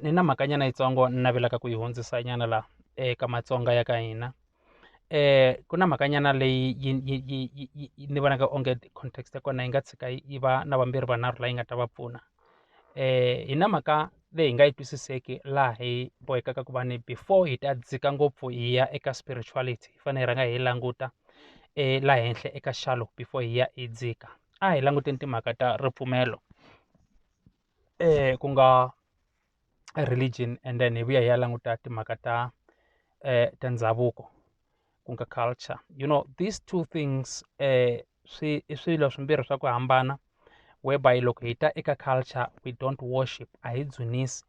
ni na mhakanyana yitsongo ni navelaka ku yi hundzisa nyana laha eka matsonga ya ka hina ku na mhakanyana leyi yi yi yi yi yi yi ni vonaka onge context ya kona yi nga tshika yi va na vambirhi vanharhu leyi nga ta va pfuna hi na mhaka leyi hi nga yi twisiseki laha hi bohekaka ku va ni before hi ta dzika ngopfu hi ya eka spirituality hi fanele hi rhanga hi languta laha henhla eka xilo before hi ya hi dzika a hi languteni timhaka ta ripfumelo. ku nga religion and then hi vuya hi ya languta timhaka ta ta ndhavuko ku nga culture you know these two things swi i swilo swimbirhi swa ku hambana whereby loko hi ta eka culture we don't worship a hi dzunisi.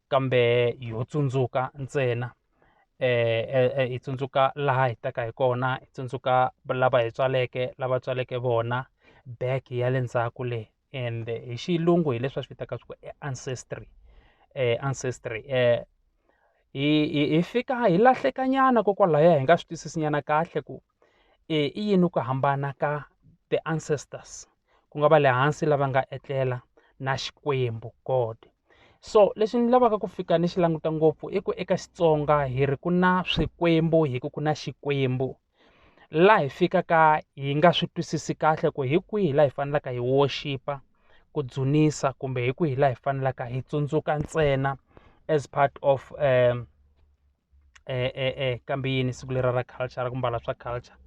kambe ho tsundzuka ntsena hi tsundzuka laha hi taka hi kona hi tsundzuka lava hi tswaleke lava tswaleke vona back ya le ndzhaku le ende hi xilungu hi leswi va swi vitanaka swa ku i ancestry ancestry hi hi hi fika hi lahleka nyana ko kwalaya hi nga swi twisisi nyana kahle ku i yini ku hambana ka the ancestors ku nga va le hansi lava nga etlela na Xikwembu God so lexi ni lavaka ku fika ni xi languta ngopfu i ku eka Xitsonga hi ri ku na swikwembu hi ku ku na Xikwembu laha hi fikaka hi nga swi twisisi kahle ku hi kwihi laha hi faneleke hi worship ku dzunisa kumbe hi kwihi laha hi faneleke hi tsundzuka ntsena as part of kambe yini siku lera ra culture ra ku mbala swa culture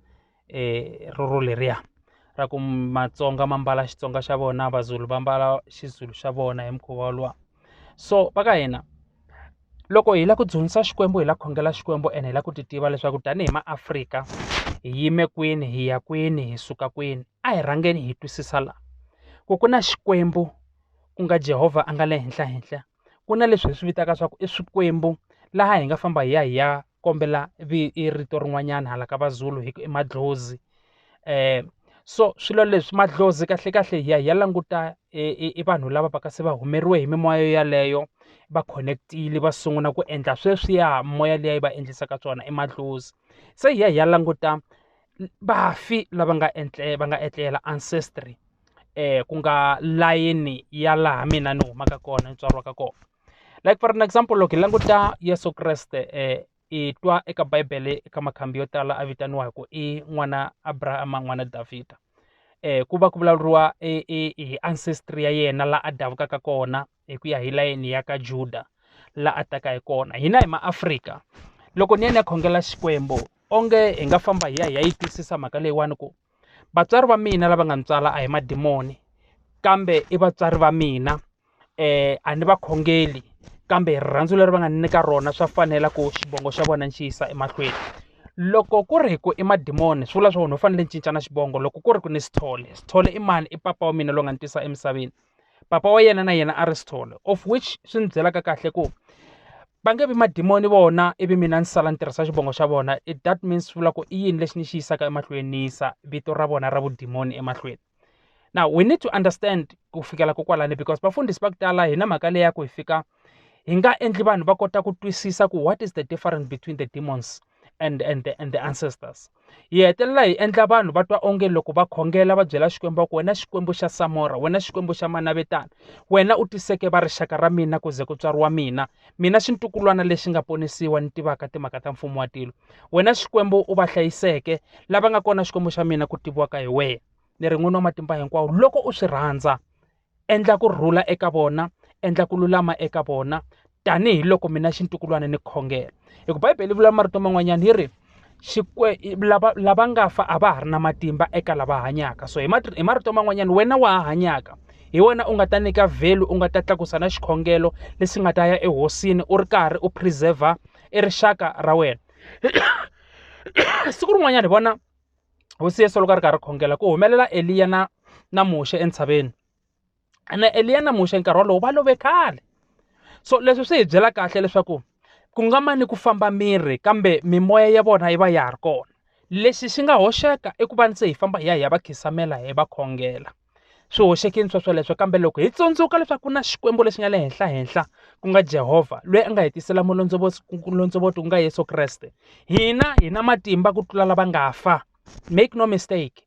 rero leriya ra ku matsonga ma mbala xitsonga xa vona mazulu va mbala xizulu xa vona hi mukhuva wolowo so va ka hina loko hi lava ku dyondzisa xikwembu hi la khongela xikwembu ene hi lava ku ti tiva leswaku tanihi maafrika hi yime kwini hi ya kwini hi suka kwini a hi rhangeni hi twisisa laha ku ku na xikwembu ku nga Jehova a nga le henhla henhla ku na leswi hi swi vitaka swa ku i swikwembu laha hi nga famba hi ya hi ya kombela rito rin'wanyana hala ka vazulu hi ku i madlozi so swilo leswi madlozi kahle kahle hi ya hi ya languta i vanhu lava va ka se va humeriwe hi mimoya yaleyo va khoneketile va sungula ku endla sweswiya moya liya yi va endlisa ka swona i madlozi se hi ya hi ya languta vafi lava nga etle va nga etlela ancestry ku nga layeni ya laha mina ni humaka kona ni tswariwaka kona like for an example loko hi languta Yeso Kreste hi twa eka bibele eka makhambi yo tala a vitaniwa hi ku i n'wana Abrahama n'wana Davhida ku va ku vulavuriwa hi ancestry ya yena laha a davukaka kona hi ku ya hi layeni ya ka Juda la a taka hi kona hina hi maAfrika loko ni ya ni ya khongela Xikwembu onge hi nga famba hi ya hi ya yi twisisa mhaka leyiwani ku vatswari va mina lava nga ni tswala a hi madimoni kambe i vatswari va mina um a ni va khongeli kambe rirhandzu leri va nga ni nyika rona swa fanela ku xivongo xa vona ni xi yisa emahlweni loko ku ri hi ku i madimoni swi vula swa wena u fanele ni cincana xivongo loko ku ri ku ni sithole sithole i mani i papa wa mina loyi nga ni tisa emisaveni papa wa yena na yena Aristotle of which swi ni byelaka kahle ku va nge vi madimoni vona ivi mina ni sala ni tirhisa xivongo xa vona it that means swi vula ku i yini lexi ni xi yisaka emahlweni ni yisa vito ra vona ra vudimoni emahlweni now we need to understand ku fikela ko kwalani because vafundhisi va ku tala hi na mhaka leyi ya ku hi fika hi nga endli vanhu va kota ku twisisa ku what is the difference between the demons and and the, and the ancestors hi hetelela hi endla vanhu va twa onge loko va khongela va byela xikwembu va ku wena xikwembu xa samora wena xikwembu xa manavetana wena u tiseke va rixaka ra mina ku ze ku tswariwa mina mina xintukulwana lexi nga ponisiwa ni tivaka timhaka ta mfumo wa tilo wena xikwembu u va hlayiseke lava nga kona xikwembu xa mina ku tiviwaka hi wena ni ri n'wini wa matimba hinkwawo loko u swi rhandza endla ku rhula eka vona endla ku lulama eka vona tanihi loko mina xintukulwana ni khongela hi ku bibele yi vula marito man'wanyana yi ri xikwe lava lava nga fa a va ha ri na matimba eka lava hanyaka so hi hi marito man'wanyana wena wa ha hanyaka hi wena u nga ta nyika vhelu u nga ta tlakusa na xikhongelo lexi nga ta ya ehosini u ri karhi u preserver i rixaka ra wena siku rin'wanyana hi vona hosi Yesu loko a ri karhi a khongela ku humelela Eliya na na Muxe entshaveni ene Eliya na Muxe nkarhi wolowo va love khale so leswi swi hi byela kahle leswaku ku nga mani ku famba miri kambe mimoya ya vona yi va ya ha ri kona lexi xi nga hoxeka i ku va ni se hi famba hi ya hi ya va khisamela hi va khongela. swi hoxeke ni swa sweleswo kambe loko hi tsundzuka leswaku ku na Xikwembu lexi nga le henhla henhla ku nga Jehovha loyi a nga hi tisela mulondzovoto ku nga Yeso Kreste hina hi na matimba ku tlula lava nga fa make no mistake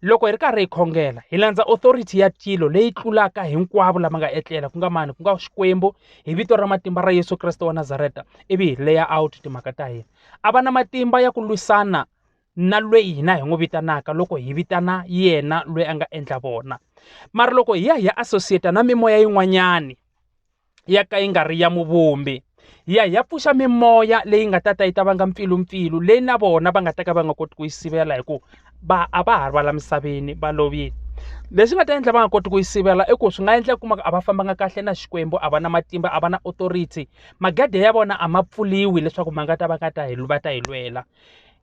loko hi ri karhi hi khongela hi landza authority ya tilo leyi tlulaka hinkwavo lama nga etlela ku nga mani ku nga xikwembu hi vito ra matimba ra yesu kreste wa nazareta ivi hi leya out timhaka ta hina a va na matimba ya ku lwisana na lweyi hina hi n'wi vitanaka loko hi vitana yena lweyi a nga endla vona mara loko hi ya hi ya associate na mimoya yin'wanyani ya ka yi nga ri ya muvumbi hi ya hi ya pfuxa mimoya leyi nga ta ta yi ta vanga mpfilumpfilu leyi na vona va nga ta ka va nga koti ku yi sivela hi ku va a va ha ri va la misaveni va lovile leswi nga ta endla va nga koti ku yi sivela i ku swi nga endla kuma a va fambanga kahle na xikwembu a va na matimba a va na authority magede ya vona a ma pfuliwi leswaku ma nga ta va nga ta hi va ta hi lwela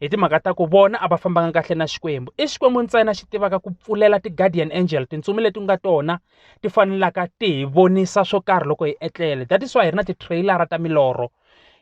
hi timhaka ta ku vona a va fambanga kahle na xikwembu i xikwembu ntsena xi tivaka ku pfulela ti-guardian angel tintsumi leti nga tona ti fanelaka ti hi vonisa swo karhi loko hi etlele that is why hi ri na ti-trailer-a ta milorho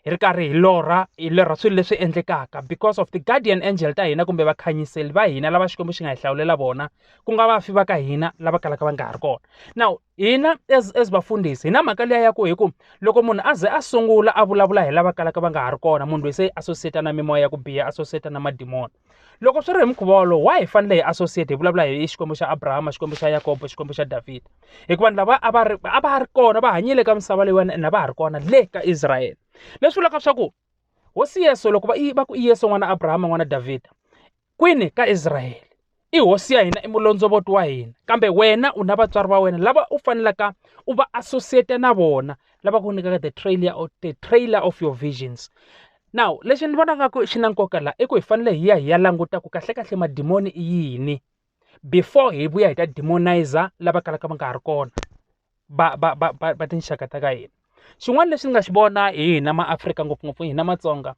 hi ri karhi hi lorha hi lorha swilo leswi endlekaka because of ti-guardian angel ta hina kumbe vakhanyiseli va hina lava xikwembu xi nga hi hlawulela vona ku nga vafi va ka hina lava kalaka va nga ha ri kona now hina as as vafundhisi hi na mhaka liya ya ku hi ku loko munhu a ze a sungula a vulavula hi lava kalaka va nga ha ri kona munhu loyi se yi associate na mimoya ya ku biha associate na madimoni loko swi ri hi mukhuva wolowo wa hi fanele hi associate hi vulavula hi xikwembu xa abrahama xikwembu xa yakobo xikwembu xa davhida hikuva lava a va ri a va ri kona va hanyile ka misava leyiwani ene a va ha ri kona le ka israyele leswi vulaka swa ku hosi yesu loko va ku i yesu n'wana abrahama n'wana davhida kwini ka Israyele? I hosi ya hina, i mulondzovoti wa hina. Kambe wena u na vatswari va wena lava u fanelaka u va associate na vona, lava ku nyikaka the trailer of, the trailer of your visions. Now lexi ni vona nga ku xi na nkoka laha i ku hi fanele hi ya hi ya languta ku kahlekahle madimoni i yini before hi vuya hi ta demonizer lava kalaka va nga ha ri kona. va va va va va tinxaka ta ka hina xin'wana lexi ni nga xi vona hi hina ma Afrika ngopfungopfu hina matsonga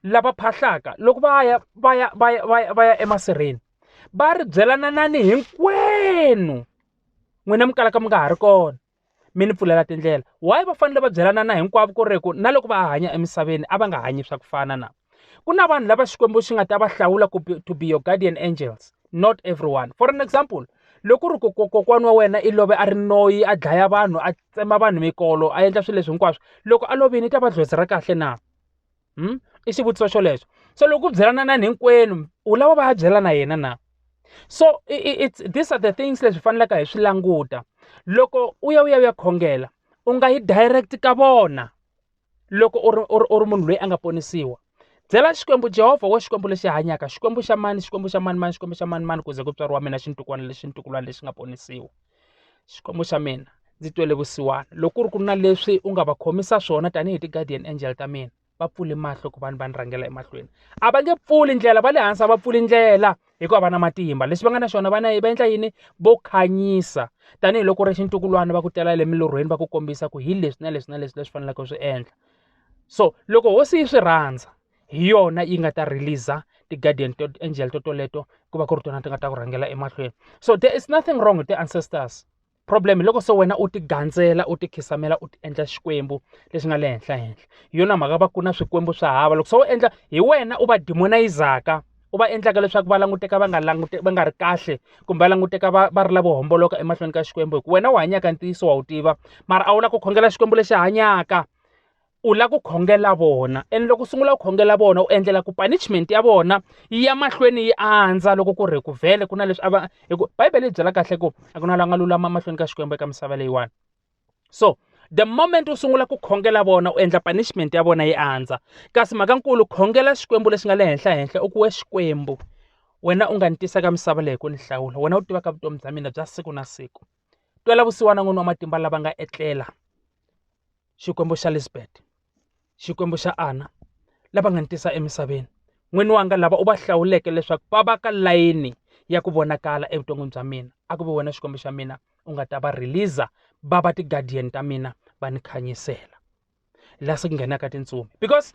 lava phahlaka loko va ya va ya va ya va ya va ya emasirheni va ri byela na na ni hinkwenu n'wina mi kalaka mi nga ha ri kona mi ni pfulela tindlela why va fanele va byelana na hinkwavo ku ri ku na loko va hanya emisaveni a va nga hanyi swa ku fana na. ku na vanhu lava xikwembu xi nga ta va hlawula ku to be your guardian angels not everyone for an example loko ri kokwana wa wena i love a ri noyi a dlaya vanhu a tsema vanhu mikolo a endla swilo leswi hinkwaswo loko a lovini i ta va dlhozi ra kahle na hmm? i xivutiso xolexo so loko u byelana na hinkwenu u lava va ya byela na yena na so it's these are the things leswi faneleke hi swi languta loko u ya u ya u ya khongela u nga yi direct ka vona loko u ri u ri u ri munhu loyi a nga ponisiwa byela xikwembu jehovha wo xikwembu lexi hanyaka xikwembu xa mani xikwembu xa mani mani xikwembu xa mani mani ku ze ku tswariwa mina xintukwana lexi ntukulwana lexi nga ponisiwa xikwembu xa mina ndzi twele vusiwana loko ku ri ku na leswi u nga va khomisa swona tanihi ti-guardian angel ta mina va pfule mahlo ku vanhu va ni rhangela emahlweni a va nge pfuli ndlela va le hansi a va pfuli ndlela hikuva va na matimba leswi va nga na swona va na va endla yini vo khanyisa tanihiloko ri xintukulwana va ku tela le milorhweni va ku kombisa ku hi leswi na leswi na leswi leswi faneleke swi endla so loko hosi yi swi rhandza hi yona yi nga ta release ti-guardian to angel to toleto ku va ku ri tona ti nga ta ku rhangela emahlweni so there is nothing wrong with the ancestors problem hi loko se wena u ti gandzela u ti khisamela u ti endla xikwembu lexi nga le henhla henhla hi yona mhaka va ku na swikwembu swa hava loko se u endla hi wena u va demonizaka u va endlaka leswaku va languteka va nga langute va nga ri kahle kumbe va languteka va va ri lavo homboloka emahlweni ka xikwembu hikuva wena u hanyaka ntiyiso wa wu tiva mara a wu lava ku khongela xikwembu lexi hanyaka u lava ku khongela vona and loko u sungula ku khongela vona u endlela ku punishment ya vona yi ya mahlweni yi andza loko ku ri ku vhele ku na leswi a va hi ku bibele yi byela kahle ku a ku na la nga lulama mahlweni ka xikwembu eka misava leyiwani so the moment u sungula ku khongela vona u endla punishment ya vona yi andza kasi mhakankulu khongela xikwembu lexi nga le henhla henhla u ku we xikwembu wena u nga ni tisa ka misava leyi ku ni hlawula wena u tivaka vutomi bya mina bya siku na siku twela vusiwana n'wini wa matimba lava nga etlela Xikwembu xa Lisbeth, Xikwembu xa Ana, lava nga ni tisa emisaveni. N'wini wanga lava u va hlawuleke leswaku va va ka layini ya ku vonakala evuton'wini bya mina a ku ve wena xikwembu xa mina u nga ta va release va va ti-guardian ta mina va ni khanyisela laha se ku nghenaka tintsumi because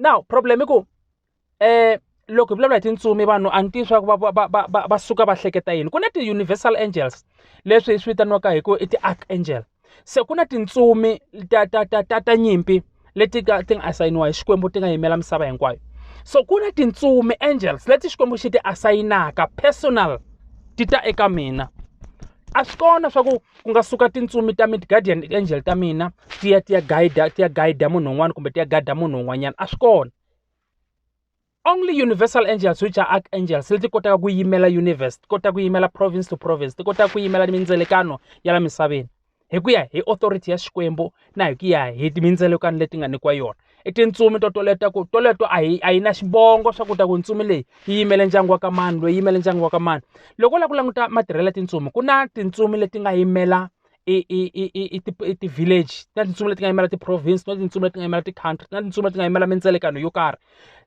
now problem i ku loko hi vulavula hi tintsumi vanhu a ni tivi swa ku va va va va va suka va hleketa yini ku na ti-universal angels leswi hi swi vitaniwaka hi ku i ti-arch angel se ku na tintsumi ta ta ta ta ta nyimpi leti ka ti nga asayiniwa hi xikwembu ti nga yimela misava hinkwayo so ku na tintsumi angels leti xikwembu xi ti asayinaka personal ti ta eka mina a swi kona swa ku ku nga suka tintsumi ta mid guardian angel ta mina ti ya ti ya guide ti ya guide munhu un'wana kumbe ti ya guide munhu un'wanyana a swi kona. only universal angels which are archangels leti kotaka ku yimela universe ti kota ku yimela province to province ti kota ku yimela mindzelekano ya la misaveni hi ku ya hi authority ya xikwembu na hi ku ya hi mindzelekano leti nga nyikiwa yona i tintsumi to toleto ku toleto a hi a yi na xivongo swa ku ta ku ntsumi leyi yi yimele ndyangu wa ka mani loyi yimele ndyangu wa ka mani loko u lava ku languta matirhelo ya tintsumi ku na tintsumi leti nga yimela i i i i i ti i ti-village na tintsumi leti nga yimela ti-province na tintsumi leti nga yimela ti-country na tintsumi leti nga yimela mindzilekano yo karhi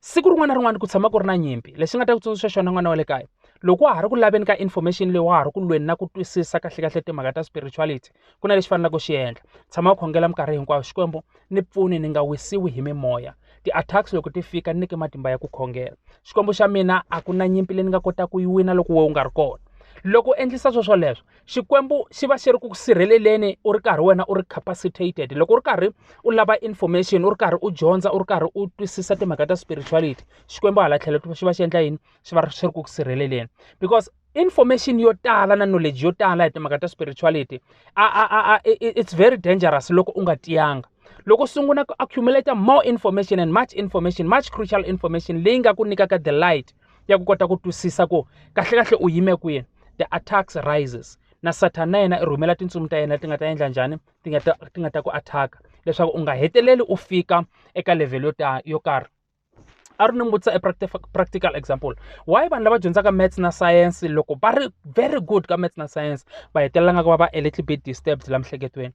siku rin'wana na rin'wana ku tshama ku ri na nyimpi lexi nga ta ku tsundzuxa xona n'wana wa le kaya loko wa ha ri ku laveni ka information leyi wa ha ri ku lweni na ku twisisa kahle kahle timhaka ta spirituality ku na lexi faneleke u xi endla tshama u khongela minkarhi hinkwayo xikwembu ni pfuni ni nga wisiwi hi mimoya ti-attacks loko ti fika ni nyike matimba ya ku khongela xikwembu xa mina a ku na nyimpi leyi ni nga kotaka ku yi wina loko we u nga ri kona loko u endlisa swo swoleswo Xikwembu xi va xi ri ku sirheleleni u ri karhi wena u ri capacitated loko u ri karhi u lava information u ri karhi u dyondza u ri karhi u twisisa timhaka ta spirituality xikwembu hala tlhelo xi va xi endla yini xi va xi ri ku sirheleleni because information yo tala na knowledge yo tala hi timhaka ta spirituality a a a a it's very dangerous loko u nga tiyanga loko u sungula ku accumulator more information and much information much crucial information leyi nga ku nyikaka the light ya ku kota ku twisisa ku kahlekahle u yime kwihi the attacks rises na sathana na yena i rhumela tintsumi ta yena ti nga ta endla njhani ti nga ta ti nga ta ku attacka leswaku u nga heteleli u fika eka level yo ta yo karhi a ri ni vutisa a practical example why vanhu lava dyondzaka maths na science loko va ri very good ka maths na science va hetelela nga ku va va a little bit disturbed la miehleketweni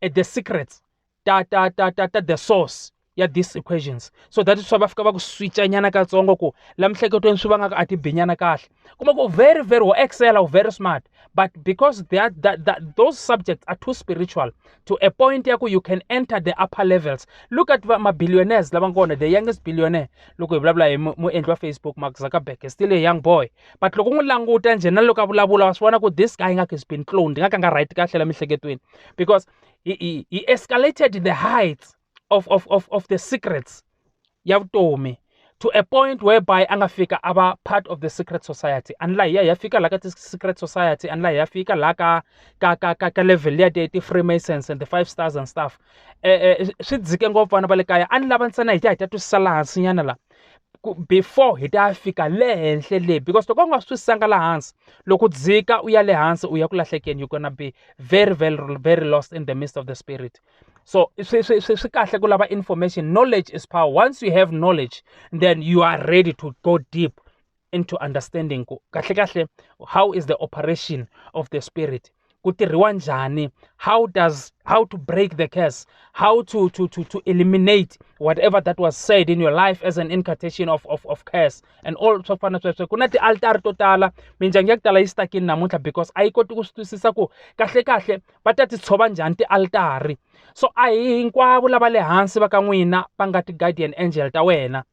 e the secrets ta ta ta ta ta the source ya these equations so that swa va fika va ku switcha nyana katsongo ku la mihleketweni swi vangaka a ti binyana kahle kuma ku very very wo excel u very smart but because they are that, that those subjects are too spiritual to a point ya ku you can enter the upper levels look at ma-billionaires lava ngona the youngest billionaire loko hi vulavula hi muendli wa facebook mark zuckerberg is still a young boy but loko u n'wi languta njhe na loko a vulavula wa swi vona ku this guy ingaku is been cloned nga ka nga right kahle la miehleketweni because he, he, he escalated the heights of, of, of, of the secrets ya vutomi to a point whereby a nga fika a va part of the secret society anla hiya ya fika laha ka ti-secret society anla hiya fika laha ka ka ka ka ka level ya ti ti-freemasons and the five stars and stuff um swi dzike ngopfu vana va le kaya a ni lava ntsena hi ta hi ta twisisa laha hansinyana laha ku before hi ta fika le henhla le because loko u nga swi sanga laha hansi loko u dzika u ya le hansi u ya ku lahlekeni you're gonna be very very very lost in the midst of the spirit so swi swi swi swi kahle ku lava information knowledge is power once you have knowledge then you are ready to go deep into understanding ku kahle kahle how is the operation of the spirit ku tirhiwa njhani how does how to break the curse how to to to to eliminate whatever that was said in your life as an incantation of of of curse and all swa fana sweswo ku na ti-altari to tala mindyangu ya ku tala yi stakini namuntlha because a yi koti ku swi twisisa ku kahle kahle va ta ti tshova njhani ti-altari so a hi hinkwavo lava le hansi va ka n'wina va nga ti-guardian angel ta wena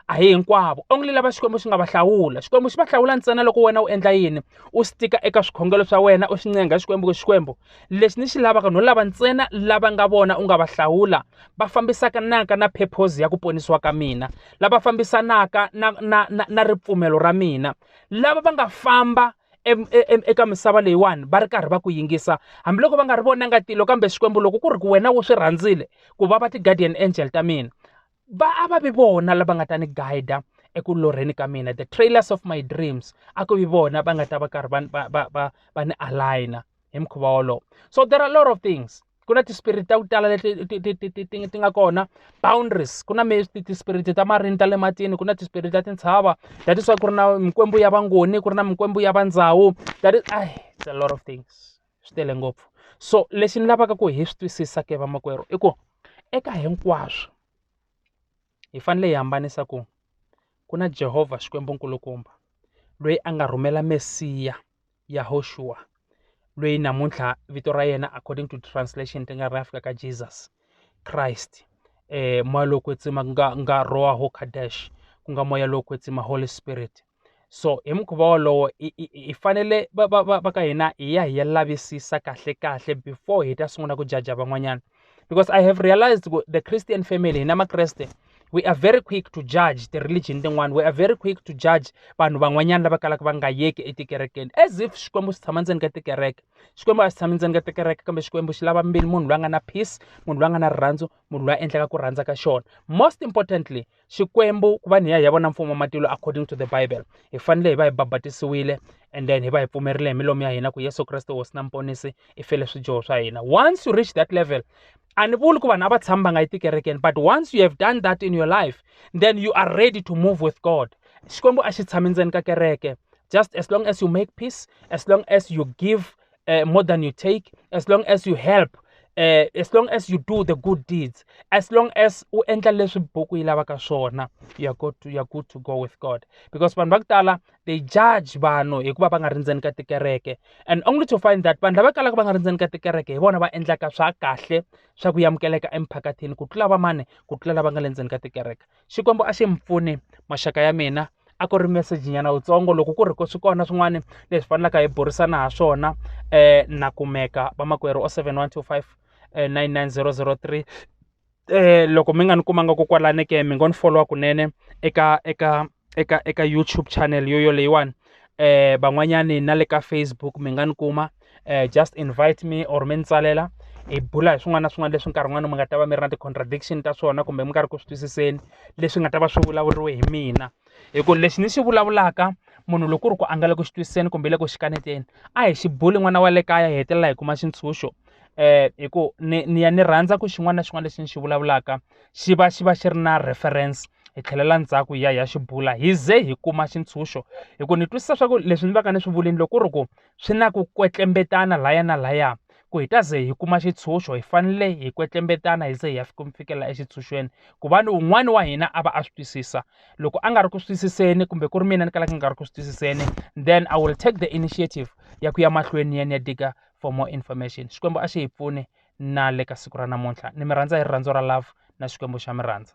a hi hinkwavo onge lava xikwembu xi nga va hlawula xikwembu xi va hlawula ntsena loko wena u endla yini u swi tika eka swikhongelo swa wena u swi ncenga xikwembu ku xikwembu lexi ni xi lavaka no lava ntsena lava nga vona u nga va hlawula va fambisaka naka na purpose ya ku ponisiwa ka mina lava fambisanaka na na na, na ripfumelo ra mina lava va nga famba e, e, e, eka misava leyiwani va ri karhi va ku yingisa hambiloko va nga ri vonanga tilo kambe xikwembu loko ku ri ku wena wo swi rhandzile ku va va ti-guardian angel ta mina va a va vi vona lava nga ta ni guide eku lorheni ka mina the trailers of my dreams a ku vi vona va nga ta va karhi va va va va va ni aligner hi mukhuva wolowo so there are a lot of things ku na tispirit ta ku tala leti ti nga kona boundaries ku na tispirit ta marini ta le matini ku na tispirit ta tintshava that is why ku ri na mikwembu ya vangoni ku ri na mikwembu ya vandzawu that is ai it's a lot of things. swi tele ngopfu so lexi ni lavaka ku hi swi twisisa ke vamakwerhu i ku eka hinkwaswo hi fanele hi hambanisa ku ku na Jehovha Xikwembu nkulukumba loyi a nga rhumela Mesiya Yahoxuwa loyi namuntlha vito ra yena according to translation ti nga ri fika ka Jesus Christ eh moya lowo kwetsima ku nga nga roha ho kadesh ku nga moya lowo kwetsima Holy Spirit so hi mukhuva wolowo hi fanele va va va va ka hina hi ya hi ya lavisisa kahle kahle before hi ta sungula ku jaja van'wanyana because i have realized ku the christian family hina makreste we are very quick to judge the religion tin'wana we are very quick to judge vanhu van'wanyana lava kalaka va nga yeki etikerekeni as if xikwembu xi tshama ndzeni ka tikereke xikwembu a xi tshami ndzeni ka tikereke kambe xikwembu xi lava mbili munhu loyi a nga na peace munhu loyi a nga na rirhandzu munhu loyi a endlaka ku rhandza ka xona most importantly Xikwembu ku va ni ya hi ya vona mfumo wa matilo according to the bible hi fanele hi va hi babatisiwile and then hi va hi pfumerile hi milomu ya hina ku Yesu Kreste hosi na muponisi i fele swidyoho swa hina once you reach that level a ni vuli ku vanhu a va tshami va nga yi tikerekeni but once you have done that in your life then you are ready to move with god xikwembu a xi tshami ndzeni ka kereke just as long as you make peace as long as you give uh, more than you take as long as you help uh, as long as you do the good deeds as long as u endla leswi buku yi lavaka swona you are good to, you are good to go with god because vanhu va ku tala they judge vanhu hikuva va nga ri ndzeni ka tikereke and only to find that vanhu lava kalaka va nga ri ndzeni ka tikereke hi vona va endlaka swa kahle swa ku yamukeleka emphakathini ku tlula vamani ku tlula lava nga le ndzeni ka tikereke xikwembu a xi mi pfuni maxaka ya mina a ku ri message nyana wutsongo loko ku ri ku swi kona swin'wana leswi fanelaka hi burisana ha swona um na kumeka vamakwerhu o seven one two five eh, nine nine zero zero three um loko mi nga ni kumanga ko kwalani ke mi ngo ni followa kunene eka eka eka eka youtube channel yo yoleyiwani um van'wanyani na le ka facebook mi nga ni kuma um just invite me or mi ni tsalela hi bula hi swin'wana na swin'wana leswi nkarhi wun'wani mi nga ta va mi ri na ti-contradiction ta swona kumbe mi nga ri ku swi twisiseni leswi nga ta va swi vulavuriwe hi mina hi ku lexi ni xi vulavulaka munhu loko ku ri ku a nga le ku xi twisiseni kumbe le ku xi kaneteni a hi xi buli n'wana wa le kaya hi hetelela hi kuma xintshunxo um hi ku ni ni ya ni rhandza ku xin'wana na xin'wana lexi ni xi vulavulaka xi va xi va xi ri na reference hi tlhelela ndzhaku hi ya hi ya xi bula hi ze hi kuma xintshunxo hi ku ni twisisa swa ku leswi ni va ka ni swi vulini loko ku ri ku Swi na ku kwetlembetana laya na laya ku hi ta ze hi kuma xitshunxo hi fanele hi kwetlembetana hi ze hi ya fika mi fikela exitshunxweni ku va ni un'wana wa hina a va a swi twisisa loko a nga ri ku swi twisiseni kumbe ku ri mina ni kalaka ni nga ri ku swi twisiseni then i will take the initiative ya ku ya mahlweni ni ya ni ya diga for more information xikwembu a xi hi pfuni na le ka siku ra namuntlha ni mi rhandza hi rirhandzu ra love na xikwembu xa mi rhandza.